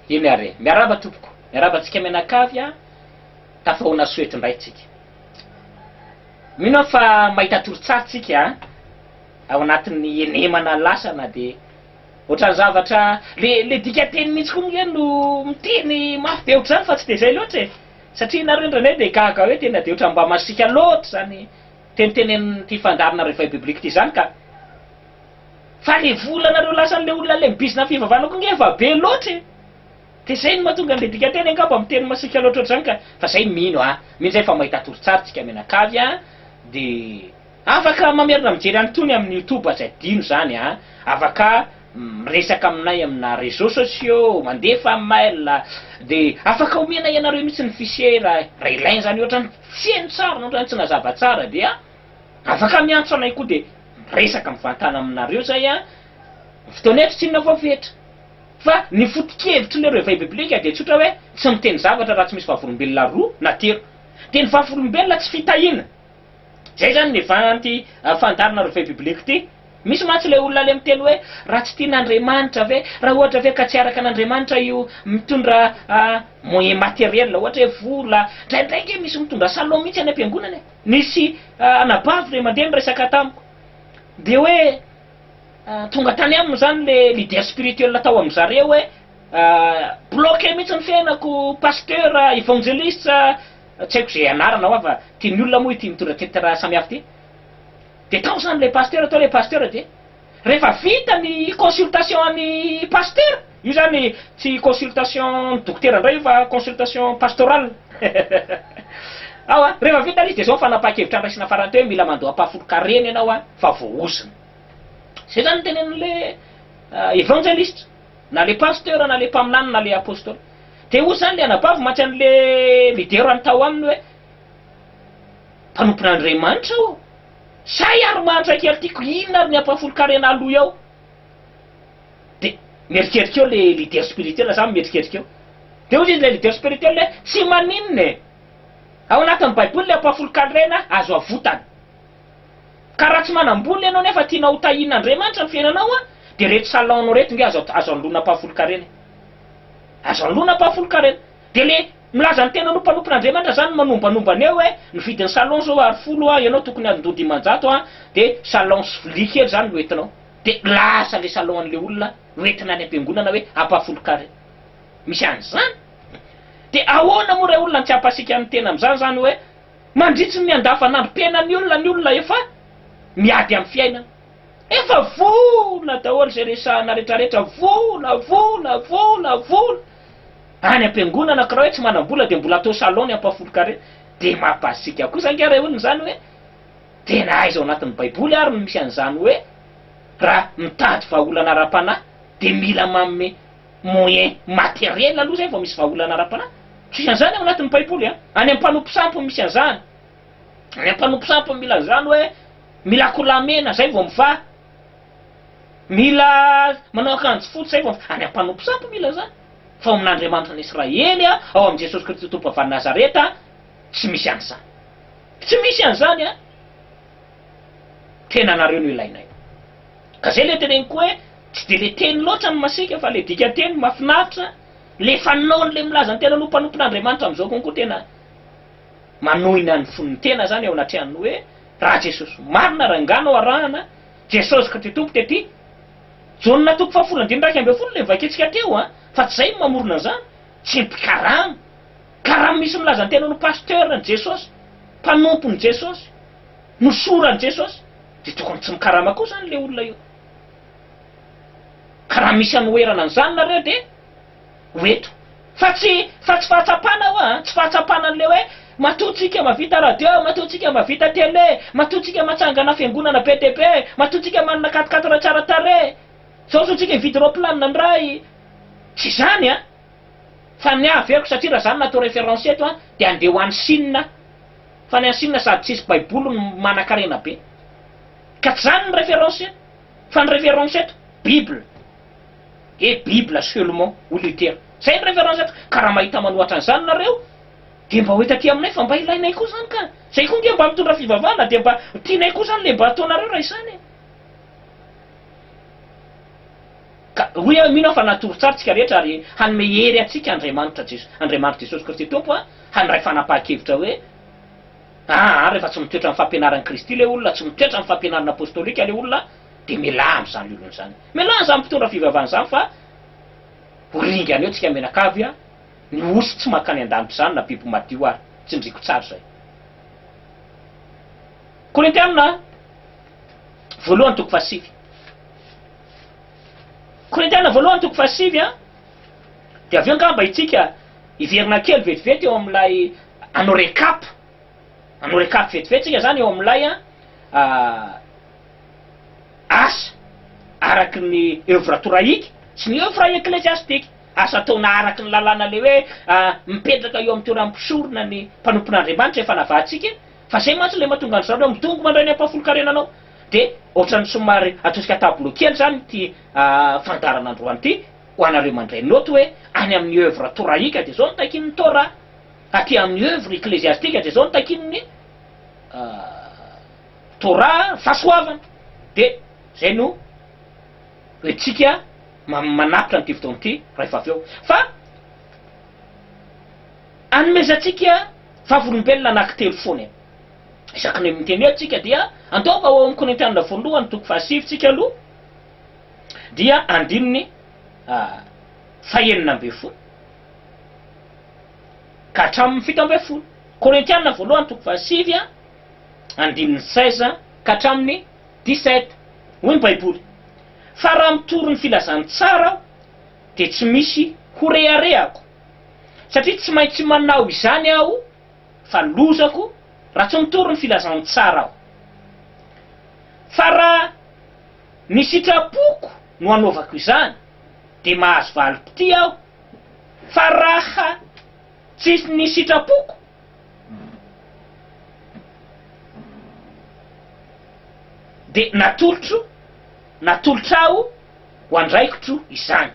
Eny ary e! Miarahaba tompoko! Miarahaba antsika mianakavy a! Tafahoana soa eto indray tsika. Mino aho fa mahita torotsary tsika ao anatin'ny henemana lasa na dia. Otrany zavatra, le le dikanteny mintsy koa moa no miteny mafy be otrzany fa tsy de zay loatra e! Satria nareo indraindray de gaga hoe tena de otrany mba masiaka loatra zany tenitenenin'ity fandaharana réveil biblique ity zany ka! Fa le vola nareo lasan'le olona le mibizina am fivavahana koa nge efa be loatra e! De zay no mahatonga an'le dikanteny angamba miteny masiaka loatra otrzany ka! Fa zay mino a! Mino zay fa mahita torotsary tsika mianakavy a! De. Afaka mamerina mijery an'itony amin'ny youtube aza adino izany a! Afaka miresaka aminay amina réseaux sociaux, mandefa mail, dia afaka omena ianareo mihitsy ny fichier raha ilaina izany ohatrany tsy heno tsara na ohatrany tsy nazava tsara dia afaka miantso anay koa dia miresaka mivantana aminareo izay a! Ny fotoana eto tsy inona fa fetra! Fa ny foto-kevitry le reveil biblique dia tsotra hoe tsy miteny zavatra raha tsy misy vavolombelona roa na telo! Dia ny vavolombelona tsy fitahiana! Zay zany ny vin anty fandaharana revue biblique ty. Misy mantsy le olona le miteny hoe raha tsy tian Andriamanitra ve, raha ohatra ve ka tsy araka an Andriamanitra io mitondra moyen materiel ohatra hoe vola, ndraindray nge misy mitondra salon mihitsy any ampiangonana e, nisy anabavy le mandeha niresaka tamiko de hoe tonga tany aminy zany le leader spirituel tao am zareo hoe bloque mihitsy ny fiainako, pasteur, evangeliste, Tsy haiko ze anarana hoa fa ty ny olona moa ity mitondra titre samihafa ty. De tao zany le pasteur tao le pasteur de refa vita ny consultation an'i pasteur, io zany tsy consultation ny dokotera indray io fa consultation pastorale ao a, refa vita le izy de zao ny fanapahan-kevitra andraisana farany teo hoe mila mandoa ampahafolon-kareny ianao fa voahozona. Zay zany ny tenenin'le evangeliste. Na le pasteur na le mpaminany na le apostoly. Dia hoy izany le anabavy maty an'le lidera ny tao aminy hoe, mpanompon'Andriamanitra aho ô! Zay ary mahantra kely tiako, inona ary ny ampahafolon-karena aloy ao? Dia mierikerika eo le leader spirituel zany mierikerika eo. Dia hoy izy le leader spirituel hoe, tsy maninona e! Ao anatin'ny baiboly le ampahafolon-karena azo avotana. Ka raha tsy manam-bola ianao nefa tianao ho tahian'Andriamanitra ny fiainanao dia ireto salon-nao ireto nge azo azo anoloana mpahafolon-karena e! Azo anoloana mpahafolon-karena. Dia le milaza ny tenany ho mpanompon'Andriamanitra zany no manombanomba an'io hoe ny vidin'ny salon zao Ar folo a, ianao tokony andoha dimanjato a, dia salon sy vilia kely zany no entinao. Dia lasa le salon an'le olona no entina any am-piangonana hoe hampahafolon-kare. Misy an'izany. Dia ahoana moa ray olona ny tsy hampasiaka ny tena amin'izany zany hoe. Mandritry ny andavanandrom-piainan'ny olona ny olona efa miady amin'ny fiainana. Efa vola daholo izay resahana retraretra, vola, vola, vola, vola. Any am-piangonana kiraoe tsy manam-bola dia mbola atao salon ny ampahafolon-kare. Dia mampasiaka kosa ange ilay olona izany hoe, tena aiza ao anatin'ny baiboly ary no misy an'izany hoe raha mitady vahaolana ara-panahy dia mila manome moyen materiel aloha zay vao misy vahaolana ara-panahy, tsy misy an'izany ao anatin'ny baiboly an! any amin'ny mpanompo sampy no misy an'izany, any amin'ny mpanompo sampy no mila an'izany hoe mila akolamena zay vao mivaha, mila manao akanjo fotsy zay vao mivaha, any amin'ny mpanompo sampy mila an'izany, fa ao amin'Andriamanitra an'Israely an, ao amin'i Jesosy Kristy Tompo avy any Nazareta an, tsy misy an'izany, tsy misy an'izany an! Tena anareo no ilainay. Ka zay le teneniko hoe tsy de le teny loatra no masiaka fa le dikanteny mafinaritra, le fanaony le milaza ny tenany ho mpanompon'Andriamanitra amizao konko tena manohy ny an'ny fon'ny tena zany eo anatrehan'ny hoe raha Jesosy marina raha enga no arahana, Jesosy Kty Tompo tety Jaona toko fahafolo andininy iraika ambin'ny folo le novakiantsika teo an, fa tsy zay no mamorona an'izany, tsy mpikarama, ka raha misy milaza ny tenany ho pasteur ny Jesosy, mpanompony Jesosy, Nosorany Jesosy dia tokony tsy mikarama koa izany ilay olona io. Ka raha misy hanoherana an'izany nareo dia ho eto. Fa tsy fa tsy fahatsapana io a, tsy fahatsapana an'ilay hoe matoa tsika mavita radio, matoa tsika mavita tele, matoa tsika matsangana fiangonana be dia be, matoa tsika manana quat-quatre tsara tarehy, zao zao tsika hividy roplanina ndray, tsy izany a! Fa ny averiko satria raha izany no atao référence eto a dia andeha ho any Chine a! Fa any Chine sady tsisy baiboly no manakarena be. Ka tsy zany ny reference. Fa ny reference eto, bible. Et bible seulement hoy Luther. Zay ny reference eto. Ka raha mahita manohatra an'izany nareo dia mba ho eto aty aminay fa mba ilainay koa zany ka. Zay koa nge mba mitondra fivavahana dia mba tianay koa zany le mba ataonareo raha izany e. Ka hoy aho, mino aho fa natory tsara tsika rehetra ary hanome hery antsika Andriamanitra Jesosy, Andriamanitra Jesosy Kristy Tompo a, handray fanapahan-kevitra hoe, aa rehefa tsy mitoetra amin'ny fampianaran'i Kristy le olona, tsy mitoetra amin'ny fampianarana apostolika le olona, dia mialà amin'izany olona izany. Mialà amin'izany mpitondra fivavahana izany fa ho ringana eo tsika mianakavy a, ny osy tsy mankany an-danitra izany na biby madio ary, tsindriko tsara izay. Korintiana voalohany toko fahasivy. Korintiana voalohany toko fahasivy a. Dia avy eo angamba itsika hiverina kely vetivety eo amin'ilay hanao recap, hanao recap vetivety tsika zany eo amin'ilay asa araky ny œuvre torahika sy ny œuvre eklesiastika, asa ataona araky ny lalàna le hoe mipetraka eo amin'ny toeran'ny mpisorona ny mpanompon'Andriamanitra efa navahantsika, fa zay mantsy le mahatonga an'i zareo midongy mandray ny ampahafolon-karena anao. Dia ohatran'ny somary atosika tableau kely izany ity fandaharana androany ity ho anareo mandray note hoe any amin'ny œuvre torahika dia izao no takian'ny Torah, aty amin'ny œuvre ecclésiastique dia izao no takian'ny Torah, fahasoavana. Dia izay no ho entintsika manapitra an'ity fotoana ity rehefa avy eo. Fa anomezantsika vavolombelona anankitelo foana e. Isaky ny miteny hoe tsika dia andaova ho ao amin'ny Korintianina voalohany toko fahasivy tsika aloha dia andininy fahenina ambin'ny folo ka hatramin'ny fito ambin'ny folo. Korintianina voalohany toko fahasivy andininy seize ka hatramin'ny dix-sept. Hoy ny Baiboly, Fa raha mitory ny filazantsara aho dia tsy misy horeharehako, satria tsy maintsy manao izany aho fa lozako raha tsy mitory ny filazan'ny tsara aho. Fa raha ny sitrapoko no anaovako izany, dia mahazo valim-pitia aho, fa raha tsy ny sitrapoko, dia natolotro, natolotr'aho ho andraikitro izany.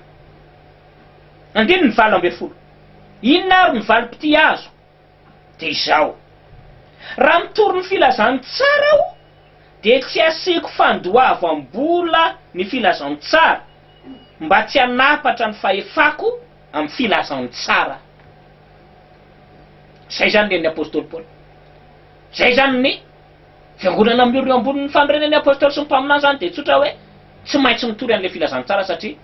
Andininy valo ambin'ny folo. Inona ary ny valim-pitia azoko? Dia izao, raha mitory ny filazantsara aho dia tsy asiako fandoavam-bola ny filazantsara mba tsy hanapatra ny fahefako amin'ny filazantsara. Izay izany ny an'ny apostoly Paoly. Izay izany ny fiangonana miorina eo ambonin'ny fanorenan'ny apostoly sy ny mpaminany izany dia tsotra hoe tsy maintsy mitory an'ilay filazantsara satria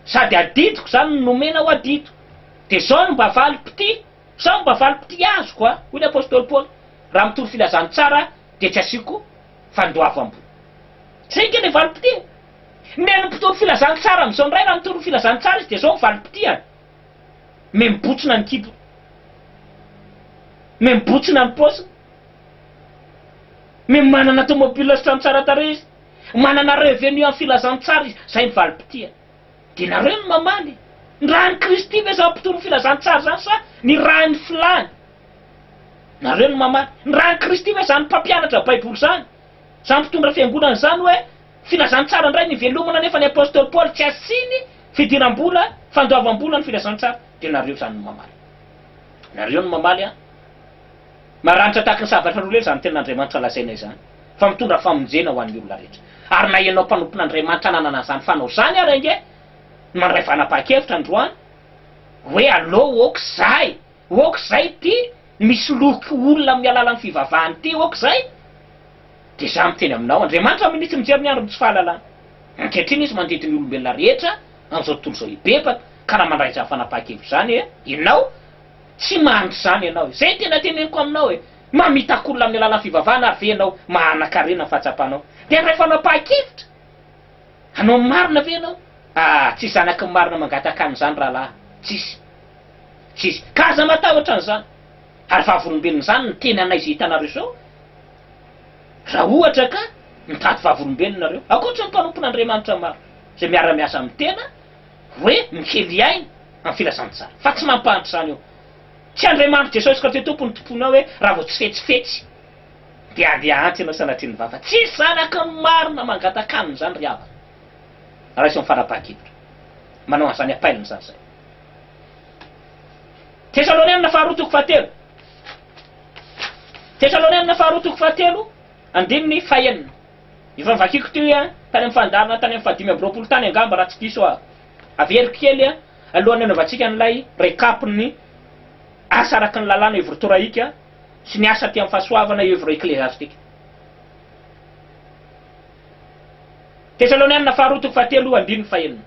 Sady adidiko izany no nomena ho adido. Dia izao no mba valim-pitia, izao no mba valim-pitia azoko a! hoy ny apostoly Paoly, Raha mitory filazantsara aho, dia tsy asiako fandoavam-bola. Izay ange ilay valim-pitia. Nen'ny mpitory filazantsara amin'izao indray, raha mitory ny filazantsara izy, dia izao ny valim-pitiany, Mihamibotsina ny kibony, mihamibotsina ny paosiny, miha manana tômôbila sy trano tsara tarehy izy. Manana revenu amin'ny filazantsara izy, izay ny valim-pitia. Dia nareo no mamaly. Ny ràn'i Kristy ve izany mpitory ny filazantsara izany sa ny ràn'ny filàny? Nareo no mamaly. Ny ràn'i Kristy ve izany mpampianatra Baiboly izany, izany mpitondra fiangonana izany hoe filazantsara indray ny ivelomana nefa ny apostoly Paoly tsy asiany fidiram-bola, fandoavam-bola ny filazantsara? Dia nareo izany no mamaly. Nareo no mamaly an! Maranitra tahaka ny sabatra roa lela izany tenin'Andriamanitra lazaina izany, fa mitondra famonjena ho an'ny olona rehetra. Ary na ianao mpanompon'Andriamanitra nanana an'izany fanao izany ary ange no mandray fanapahan-kevitra androany hoe aleo aoka izay, aoka izay ity misoloky olona amin'ny alalan'ny fivavahana ity, aoka izay, dia izaho miteny aminao, Andriamanitra mihinitsy mijery ny andron'ny tsy fahalalana. Ankehitriny Izy mandidy ny olombelona rehetra amin'izao tontolo izao hibebaka, ka raha mandray izany fanapahan-kevitra izany ianao, Tsy mandry izany ianao e! Izay tena teneniko aminao e! Mamitaka olona amin'ny alalan'ny fivavahana ary ve ianao mahanakarena ny fahatsapanao? Dia raha efa nampahan-kevitra hanao ny marina ve ianao? Ah! Tsisy zanaky ny marina mangataka an'izany rahalahy! Tsisy! Tsisy! Ka aza matahotra an'izany! Ary vavolombelona izany ny tenanay izay hitanareo izao! Raha ohatra ka mitady vavolombelona ianareo, ankoatry ny mpanompon'Andriamanitra maro izay miara-miasa amin'ny tena hoe mikely aina amin'ny filazantsara, fa tsy mampahantra izany io. Tsy Andriamanitry Jesosy Kristy Tompon'ny tomponao hoe raha vao tsy fetsifetsy dia handeha hahantra ianao sanatria ny vava. Tsy zanaky ny marina mangatakanina izany ry havana. Raiso amin'ny fanapahan-kevitra. Manao an'izany apailina izany izay. Tesalonianina faharoa toko fahatelo. Tesalonianina faharoa toko fahatelo, andininy fahenina. Efa novakiako teo an, tany amin'ny fandaharana tany amin'ny fahadimy amby roapolo tany angamba raha tsy diso aho. Averiko kely an, alohan'ny hanaovantsika an'ilay recap-n'ny asa araka ny lalàna œuvre torahika sy ny asa aty amin'ny fahasoavana œuvre ekleziastika. Tesalonianina faharoa toko fahatelo andininy fahenina.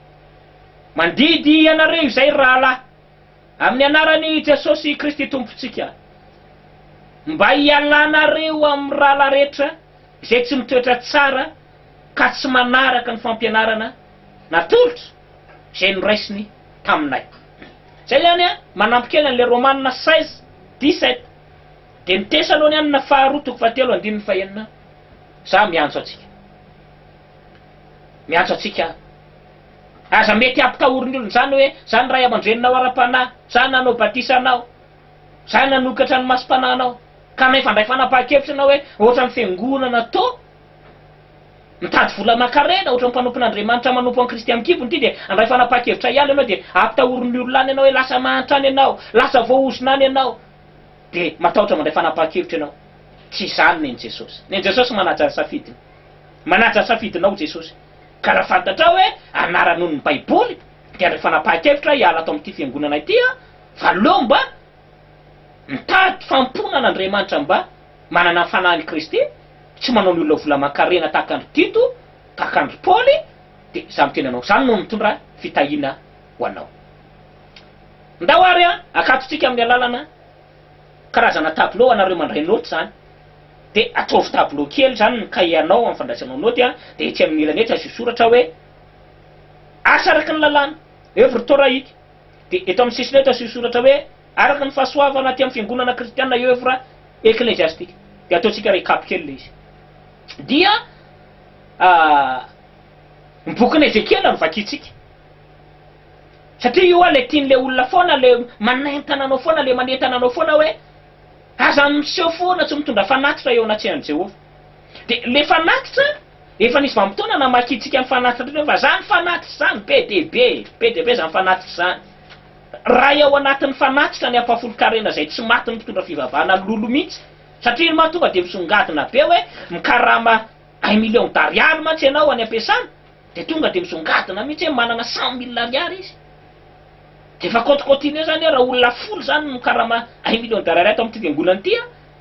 Mandidy anareo izay ry rahalahy, amin'ny anaran'i Jesosy Kristy Tompontsika, mba hialanareo amin'ny rahalahy rehetra, Izay tsy mitoetra tsara ka tsy manaraka ny fampianarana na tolotra izay noraisiny taminay. Izay ihany, manampy kely an'ilay Romana seize, dix sept, dia ny Tesaloniana faharoa toko fahatelo andininy fahenina, Izaho miantso antsika. Miantso antsika aho. Aza mety hampitahorin'ny olona izany hoe, Izaho ny ray aman-dreninao ara-panahy. Izaho nanao batisa anao. Zay nanokatra ny masom-panahinao, kanefa ndray fanapahan-kevitra ianao hoe ohatran'ny fiangonana to mitady vola aman-karena, ohatran'ny mpanompon'Andriamanitra manompo an'i Kristy amin-kibony ity dia handray fanapahan-kevitra ihany ianao dia ampitahorin'ny olona any ianao hoe lasa mahantra any ianao, lasa voahozona any ianao dia matahotra mandray fanapahan-kevitra ianao. Tsy izany nen'i Jesosy. Nen'i Jesosy manaja ny safidiny. Manaja ny safidinao Jesosy. Ka raha fantatrao hoe anarano ny Baiboly dia handray fanapahan-kevitra hiala ato amin'ity fiangonana ity aho, Fa aleo mba mitady fahampoana an'Andriamanitra mba manana ny fanahin'i Kristy, tsy manao ny olona vola aman-karena tahaka an-dry Tito, tahaka an-dry Paoly, dia izaho miteny anao izany no mitondra fitahiana ho anao. Ndao ary hakatontsika amin'ny alalana karazana tableau anareo mandray naoty izany, dia ataovy tableau kely izany ny kahianao amin'ny fandraisanao naoty, dia etsy amin'ny ilany etsy asio soratra hoe, Asa araka ny lalàna, œuvre torahika. Dia eto amin'ny sisiny eto asio soratra hoe, Araka ny fahasoavana aty amin'ny fiangonana kristiana eo evra ekleziastika. Dia ataontsika recap kely ilay izy. Dia ny bokin'i Ezekiela no vakintsika. Satria io ilay tian'ilay olona foana, ilay manentana anao foana, ilay manentana anao foana hoe, Aza miseho foana tsy mitondra fanatitra eo anatrehan'i Jehovah. Dia ilay fanatitra Efa nisy vanim-potoana namakiantsika ny fanatitr'ireo fa izany fanatitra izany be dia be, be dia be izany fanatitra izany. Ray ao anatin'ny fanatitra ny ampahafolon-karena izay tsy matin'ny mpitondra fivavahana ny lolo mihitsy, satria iny mantsy tonga dia misongadina be hoe mikarama un million d'ariary mantsy ianao any am-piasana, dia tonga dia misongadina mihitsy hoe manana cent mille ariary izy. Dia efa compte continue izany hoe raha olona folo izany no mikarama un million d'ariary ato amin'ity fiangonana ity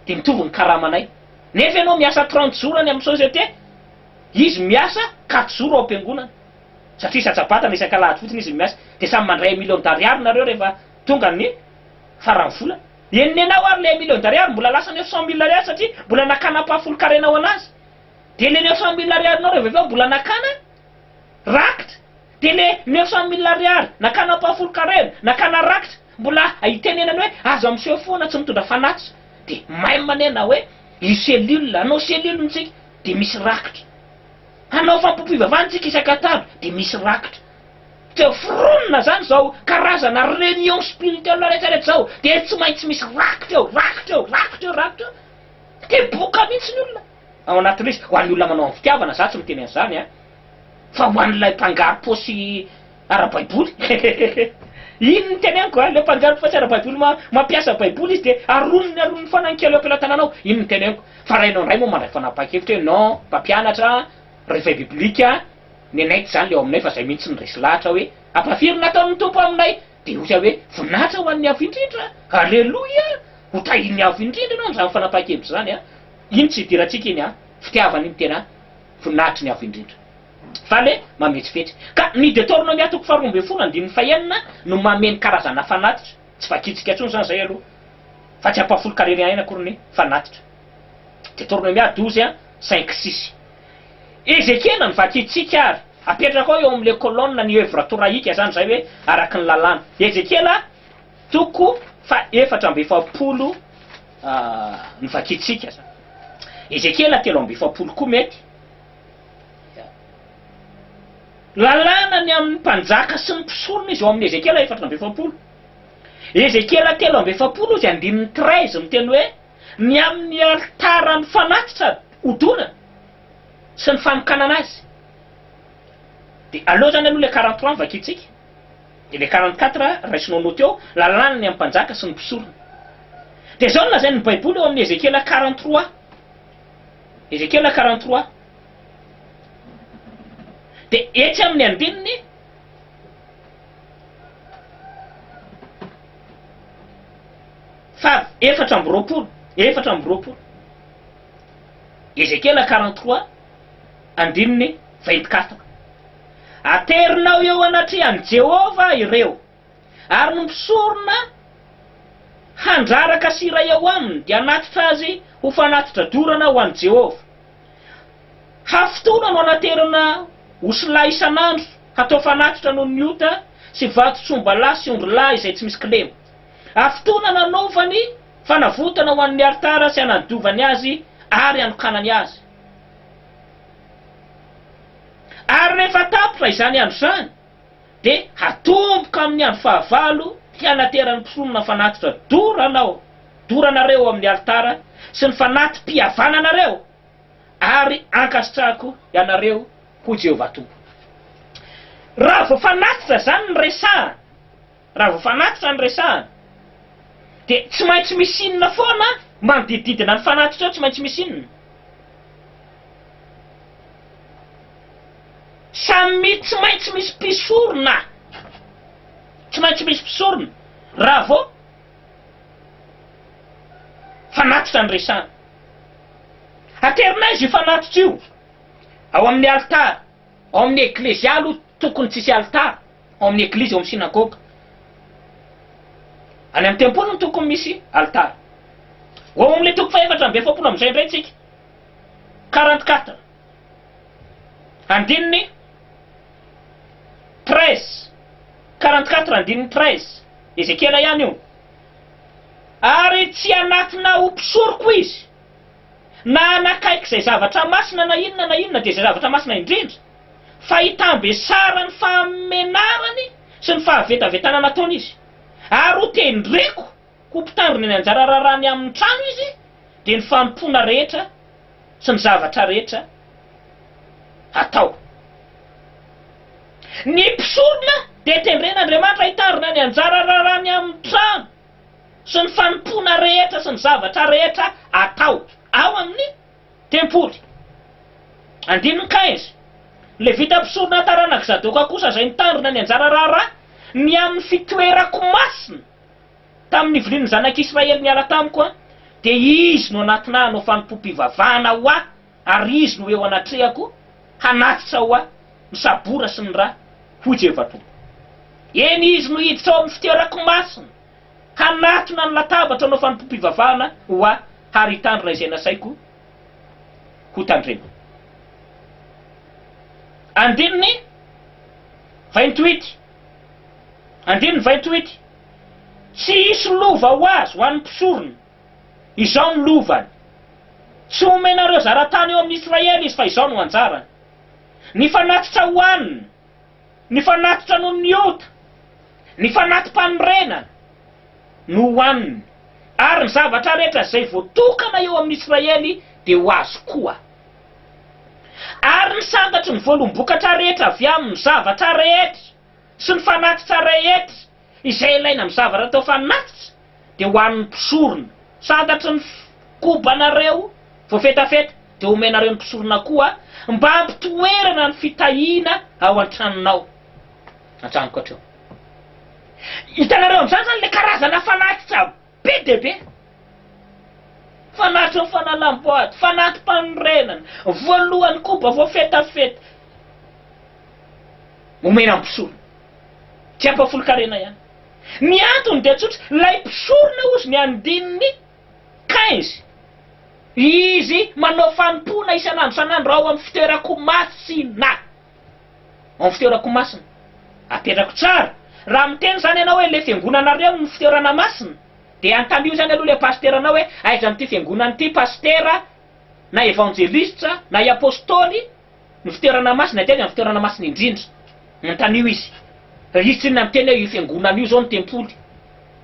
dia mitovy ny karamanay. Nefa ianao miasa trente jours any amin'ny société, izy miasa quatre jours ao am-piangonana, satria isa-tsabata na isak'alahady fotsiny izy no miasa, dia samy mandray un million d'ariary nareo rehefa tonga ny faran'ny volana. Eny nenao ary ilay un million d'ariary mbola lasa neuf cent mille ariary satria mbola nakana ampahafolon-karenao anazy. Dia ilay neuf cent mille ariarinao rehefa avy eo mbola nakana rakitra. Dia le neuf cent mille ariary nakana mpahafolo karera, nakana rakitra, mbola itenenany hoe aza miseho foana tsy mitondra fanatitra, dia même anie na hoe io cellule, hanao cellule ntsika dia misy rakitra, hanao fampompivavahana ntsika isak'antato dia misy rakitra, dia foronina zany zao karazana réunion spirituelle rehetra rehetra zao dia tsy maintsy misy rakitra eo, rakitra eo, rakitra eo, rakitra eo, dia boka mintsy ny olona. Ao anaty liste ho an'ny olona manao amin'ny fitiavana, za tsy miteny an'izany an! Fa ho an'ilay mpanjary paosy ara-baiboly Iny no teneniko an! Ilay mpanjary paosy ara-baiboly ma, mampiasa baiboly izy dia aroniny aroniny foana ny kely eo am-pelatananao, iny no teneniko. Fa raha ianao indray moa mandray fanapahan-kevitra hoe non, mpampianatra, réveil biblique, nenay tsy izany ilay ao aminay fa izay mihitsy no resy lahatra hoe, ampahafiry ny nataon'ny Tompo aminay! Dia ohatra hoe voninahitra ho an'ny Avo Indrindra! Aleloia! Ho tahin'ny Avo Indrindra ianao amin'izany fanapahan-kevitra izany an! Iny tsy idirantsika iny an! Fitiavana iny tena voninahitry ny Avo Indrindra. Fale mametsifetsy. Ka ny Detornomia toko faharoa ambin'ny folo andininy fahenina no mameno karazana fanatitra. Tsy vakintsika intsony izany izay aloha. Fa tsy hampahafolon-karena aina akory ny fanatitra. Detornomia douze, cinq, six. Ezekena ny vakintsika ary apetrakao eo amin'ilay colonne ny œuvre torahika izany izay hoe araka ny lalàna. Ezekiela toko faha efatra amby efapolo ny vakintsika izany. Ezekiela telo amby efapolo koa mety. Lalàna ny amin'ny mpanjaka sy ny mpisorona izy eo amin'ny Ezekiela efatra amby efapolo. Ezekiela telo amby efapolo izy andininy treize miteny hoe. ny amin' ny alitaran' ny fanatitra odonana sy ny fanokanana azy. Dia aleo izany aloha ilay quarante trois no vakintsika, dia ilay quarante quatre raisinao naoty eo, lalàna ny amin' ny mpanjaka sy ny mpisorona. Dia izao no lazain' ny Baiboly eo amin' ny Ezekiela quarante trois, Ezekiela quarante trois, dia etsy amin' ny andininy Fav. Efatra amby roapolo, efatra amby roapolo. Ezekiela quarante trois, andininy vingt quatre. Aterinao eo anatrehan'i Jehovah ireo, ary ny mpisorona handraraka sy hiray ao aminy dia hanatitra azy ho fanatitra dorana ho an'i Jehovah. Hafa fotoana no anaterana osilahy isan'andro hatao fanatitra noho ny ota sy vatotr'ombalahy sy ondrilahy izay tsy misy kilema. ary fotoana nanaovany fanavotana ho an'ny alitara sy hanadiovany azy ary hanokanany azy. Ary rehefa tapitra izany andro izany, dia hatomboka amin'ny andro fahavalo hianateran'ny mpisorona fanatitra dorana ao doranareo ao amin'ny alitara sy ny fanati-pihavananareo, ary ankasitrahako ianareo, hoy Jehovah Tompo. Raha vao fanatitra izany ny resahana, Raha vao fanatitra no resahana dia tsy maintsy misy inona foana manodididina ny fanatitra eo tsy maintsy misy inona? Samy tsy maintsy misy mpisorona tsy maintsy misy mpisorona raha vao fanatitra no resahana. Aterina aiza io fanatitra io? Ao amin'ny alitara, ao amin'ny eklezia aloha tokony tsy hisy alitara. ao amin'ny eglizy, ao amin'ny synagoga. Any amin'ny tempoly no tokony misy alitara. Ho ao amin'ilay toko fahefatra amby efapolo amin'izay indray isika, quarante quatre, andininy treize, quarante quatre andininy treize, Ezekiela ihany io, Ary tsy hanatona ho mpisoroko izy, na hanakaiky izay zavatra masina na inona na inona, dia izay zavatra masina indrindra, fa hitambesarany fahamenarany sy ny fahavetavetana nataony izy, ary ho tendreko ho mpitandrina ny anjara raharahany amin'ny trano izy, dia ny fanompoana rehetra sy ny zavatra rehetra atao. Ny mpisorona dia tendren'Andriamanitra hitandrina ny anjara raharahany amin'ny trano sy ny fanompoana rehetra sy ny zavatra rehetra atao ao amin'ny. Tempoly. Andininy quinze. Levita mpisorona taranak'i Zadoka kosa izay nitandrina ny anjara raharaha ny amin'ny fitoerako masina tamin'ny nivilian'ny zanak'Israely niala tamiko aho, dia izy no hanatona ahy hanao fanompoam-pivavahana ho ahy, ary izy no ho eo anatrehako hanatitra ho ahy ny sabora sy ny ra, hoy Jehovah Tompo. Eny, izy no hiditra ao amin'ny fitoerako masina. Hanatona ny latabatra hanao fanompoam-pivavahana ho ahy ary hitandrina izay nasaiko hotandremana. Andininy vingt-huit Andininy vingt-huit, Tsy hisy lova ho azy ho an'ny mpisorona. Izao no lovany, Tsy homenareo zara-tany eo amin'ny Israely izy fa izao no anjarany, Ny fanatitra hohaniny, Ny fanatitra noho ny ota, ny fanati-panorenana no hohaniny, ary ny zavatra rehetra izay voatokana eo amin'ny Israely dia ho azy koa. Ary ny santatry ny voalombokatra rehetra avy amin'ny zavatra rehetra sy ny fanatitra rehetra, Izay ilaina amin'ny zava-rahateo fanatitra dia ho an'ny mpisorona. Santatry ny kobanareo voafetafeta dia omenareo ny mpisorona koa mba hampitoerana ny fitahiana ao an-tranonao. An-tranoko hatreo. Hitanareo amin'izany izany ilay karazana fanatitra. Be dia be! Fanatitra ny fanalam-boady, fanati-panorenana, voalohany koba voafetafeta, omena ny mpisorona. Tsy ampahafolon-karena ihany. Ny antony dia tsotra, ilay mpisorona hozy ny andininy quinze, izy manao fanompoana isan'andro isan'andro ao amin'ny fitoeran-ko masina. Amin'ny fitoerako masina. Apetrako tsara. Raha miteny izany ianao hoe ilay fiangonanareo no fitoerana masina, dia antamio izany aloha ilay pasiteranao hoe aiza amin'ity fiangonana ity pasitera na evanjelistra na i apostoly no fitoerana masina dia aiza ny fitoerana masina indrindra. Antamio izy. Raha izy tsinona miteny hoe io fiangonana io izao no tempoly,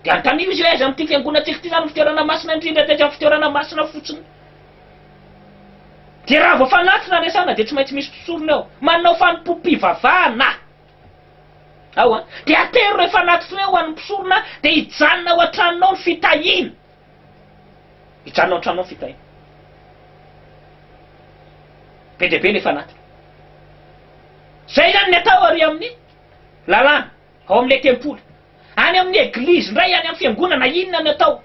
dia antamio izy hoe aiza amin'ity fiangonantsika ity izany no fitoerana masina indrindra dia aiza ny fitoerana masina fotsiny. Dia raha vao fanatina resahana dia tsy maintsy misy mpisorona eo, manao fanompoam-pivavahana ao an! Dia atero rehefa anaty frais ho an'ny mpisorona dia hijanona ao an-tranonao ny fitahiana. Hijanona ao an-tranonao ny fitahiana. Be dia be ilay fanatitra. Izay izany ny atao ary amin'ny lalàna. ao amin'ilay tempoly, any amin'ny eglizy indray, any amin'ny fiangonana, na inona ny atao.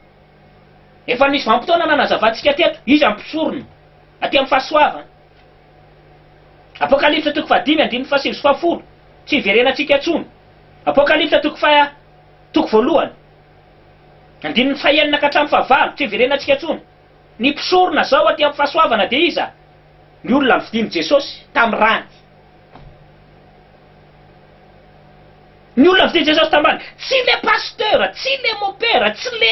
Efa nisy vanim-potoana nanazavantsika teto iza ny mpisorona aty amin'ny fahasoavana. Apokalypsa toko fahadimy andininy fahasivy sy fahafolo, tsy hiverenantsika intsony. Apokalypsa toko faha, toko voalohany, andininy fahenina ka hatramin'ny fahavalo, tsy hiverenantsika intsony. Ny mpisorona izao aty amin'ny fahasoavana dia iza? Ny olona novidian'i Jesosy tamin'ny rany. Ny olona avy te Jesosy tambany, tsy le pasteur, tsy le mopera, tsy le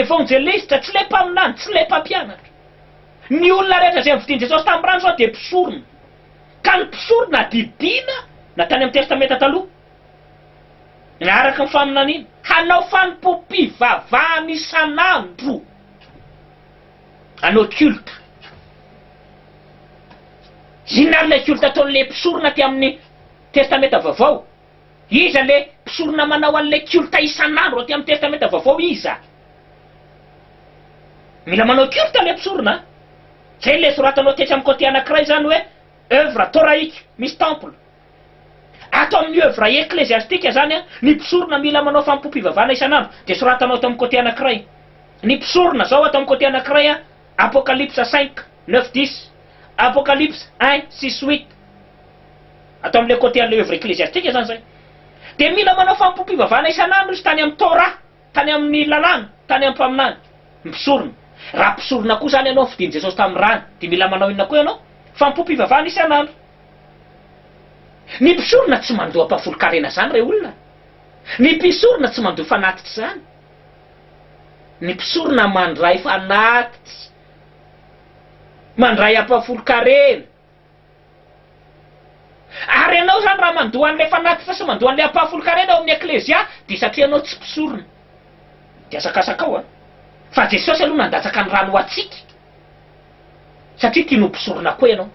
evangeliste, tsy le mpaminany, tsy le mpampianatra. Ny olona rehetra izay novidian'i Jesosy tamin'ny rany izao dia mpisorona. Ka ny mpisorona didiana na tany amin'ny testamenta taloha, na araka ny faminaniana, hanao fanompoam-pivavahana isan'andro. Hanao culte. Inona ary ilay culte ataon'ilay mpisorona aty amin'ny Testamenta Vaovao? Iza ilay mpisorona manao an'ilay culte isan'andro aty amin'ny Testamenta Vaovao? Iza? Mila manao culte ilay mpisorona an! Izay ilay soratanao tetsy amin'ny côté anankiray izany hoe Œuvres Torahika, misy temple. Ato amin'ny œuvre ecclésiastique izany, ny mpisorona mila manao fanompoam-pivavahana isan'andro, dia soratanao ato amin'ny côté anankiray. Ny mpisorona, zao ato amin'ny côté anankiray, Apocalypse cinq, neuf, dix, Apocalypse un, six, huit, ato amin'ilay côté an'ilay œuvre ecclésiastique izany izay. Dia mila manao fanompoam-pivavahana isan'andro izy tany amin'ny Torah. Tany amin'ny lalàna, tany am-paminany, ny mpisorona. Raha mpisorona koa izany ianao, fidin'i Jesosy tamin'ny rany, dia mila manao inona koa ianao? Fanompoam-pivavahana isan'andro. Ny mpisorona tsy mandoa mpahafolon-karena izany, re olona. Ny mpisorona tsy mandoa fanatitra izany. Ny mpisorona mandray fanatitra, mandray ampahafolon-karena. Ary ianao izany raha mandoa an'ilay fanatitra sy mandoa an'ilay ampahafolon-karena ao amin'ny eklezia dia satria ianao tsy mpisorona. Dia asakasakao an! Fa Jesosy aloha nandatsaka ny rany ho antsika satria tiany ho mpisorona koa ianao.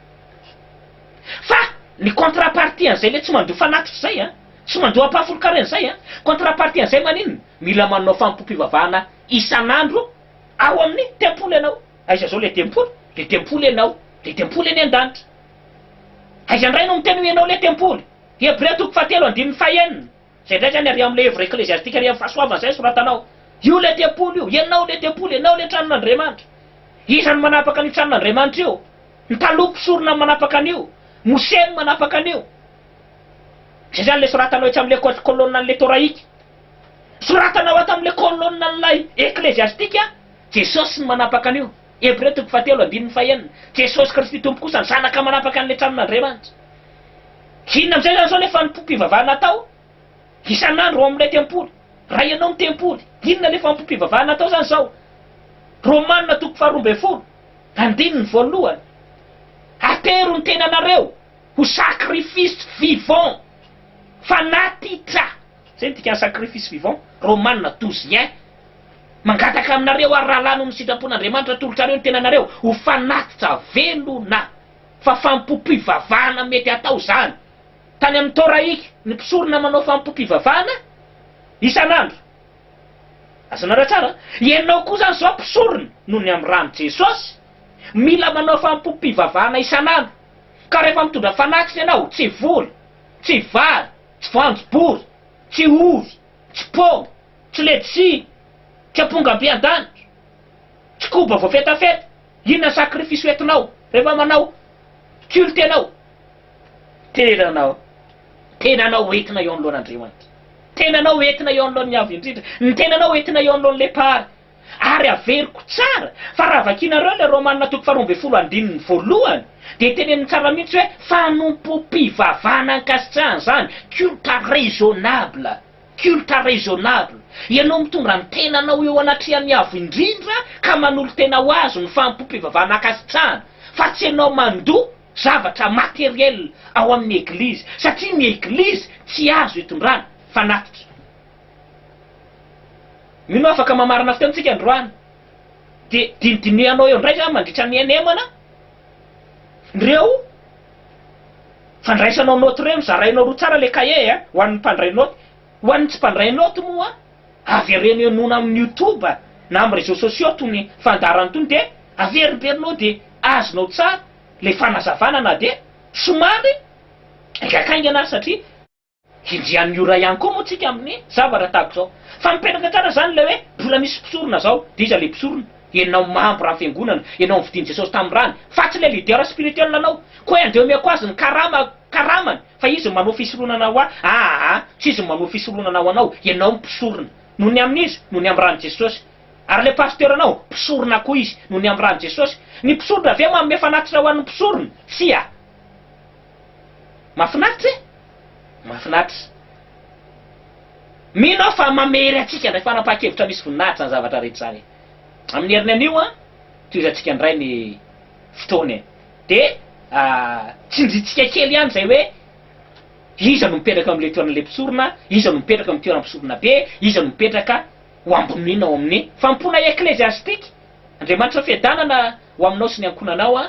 Fa ny contre-partie an'izay ilay tsy mandoa fanatitra izay an! Tsy mandoa ampahafolon-karena izay an! Contre-partie an'izay maninona? Mila manao fanompoam-pivavahana isan'andro ao amin'ny tempoly ianao. Aiza zao le tempoly? Le tempoly enao, le tempoly eny an-danitra. Aiza indray no miteny hoe enao le tempoly? Hebrea toko fahatelo andininy fahenina. Zay indray zany ary amle œuvre ecclésiastique ary am fahasoavana zay soratanao. Io le tempoly io, enao le tempoly, enao le tranon'Andriamanitra. Iza no manapaka an'io tranon'Andriamanitra io? Ny taloha mpisorona no manapaka an'io, Mosè no manapaka an'io. Zay zany le soratanao etsy amle kolonan'le toraika. Soratana ao ato amin'ilay kôlônin'ilay Eklesiastika, Jesosy no manapaka an'io. Hebreo toko fahatelo andininy fahenina, Jesosy Kristy Tompo kosa ny Zanaka manapaka an'ilay tranon'Andriamanitra. Inona amin'izay izany izao ilay fanompoam-pivavahana atao isan'andro ao amin'ilay tempoly? Raha ianao no tempoly, inona ilay fanompoam-pivavahana atao izany izao? Romanina toko faharoa ambin'ny folo, andininy voalohany, Atero ny tenanareo ho sacrifice vivant, fanatitra. Zay ny dikan'ny sacrifice vivant. Romana douze ieh. Mangataka aminareo ary rahalahy noho ny sitrapon'Andriamanitra atolotrareo ny tenanareo ho fanatitra velona fa fampom-pivavahana mety atao izany. Tany amin'ny Torahik ny mpisorona manao fampom-pivavahana isan'andro. Azonareo tsara? Ianao koa izany izao mpisorona noho ny amin'ny ran'i Jesosy mila manao fampom-pivavahana isan'andro. Ka rehefa mitondra fanatitra ianao, tsy vola, tsy vary, tsy voanjobory, tsy ovy, tsy paoma, tsy letchi, tsy amponga ampiadanitra, tsy koba voafetafeta, inona sacrifice hoentinao rehefa manao culte ianao? Tenanao, tenanao hoentina eo anoloan'Andriamanitra, tenanao hoentina eo anoloan'ny Avo Indrindra, ny tenanao hoentina eo anoloan'ny Lepara, Ary averiko tsara fa raha vakianareo ilay Romana toko faharoa ambin'ny folo andininy voalohany dia teneniny tsara mihitsy hoe fanompoam-pivavahana ankasitrahana izany, culte raisonnable, culte raisonnable. Ianao mitondra ny tenanao eo anatrehan'ny Avo Indrindra ka manolo-tena ho Azy no fanompoam-pivavahana ankasitrahana fa tsy ianao mandoa zavatra matériel ao amin'ny Eglizy satria ny Eglizy tsy azo itondrana, fanatitra. Mino aho afaka mamarana fiteny tsika androany dia dinidinihanao eo indray izany mandritra ny NM na ireo fandraisanao note ireo nozarainao roa tsara ilay cahier a! ho an'ny mpandray note, ho an'ny tsy mpandray note moa avereno henoina amin'ny youtube na amin'ny réseaux sociaux itony fandaharana itony dia averimberinao dia azonao tsara ilay fanazavana na dia somary haingankaingana ary satria Hinjian'ny ora ihany koa moa tsika amin'ny zavatra tahaka izao. Fa mipetraka tsara izany ilay hoe mbola misy mpisorona izao, dia iza ilay mpisorona? Ianao membre amin'ny fiangonana, ianao novidian'i Jesosy tamin'ny rany, fa tsy ilay leader spirituel anao. Koa hoe andeha omeko azy ny karama, karamany, fa izy no manao fisoronana ho ahy, aa, tsy izy no manao fisoronana ho anao, ianao no mpisorona. Noho ny amin'iza? Noho ny amin'ny ran'i Jesosy. Ary ilay pasteur anao? Mpisorona koa izy, noho ny amin'ny ran'i Jesosy. Ny mpisorona ve manome fanatitra ho an'ny mpisorona? Tsia. Mahafinaritra e! Mahafinaritra. Mino aho fa mamery antsika indray fanapahan-kevitra misy voninahitra izany zavatra rehetra izany e! Amin'ny heriny anio an, tohizantsika indray ny fotoana e! Dia tsindrintsika kely ihany izay hoe iza no mipetraka eo amin'ilay toeran'ilay mpisorona, iza no mipetraka eo amin'ny toeram-pisorona be, iza no mipetraka ho ambonina ao amin'ny fanompoana ekleziastika. Andriamanitra fiadanana ho aminao sy ny ankohonanao an!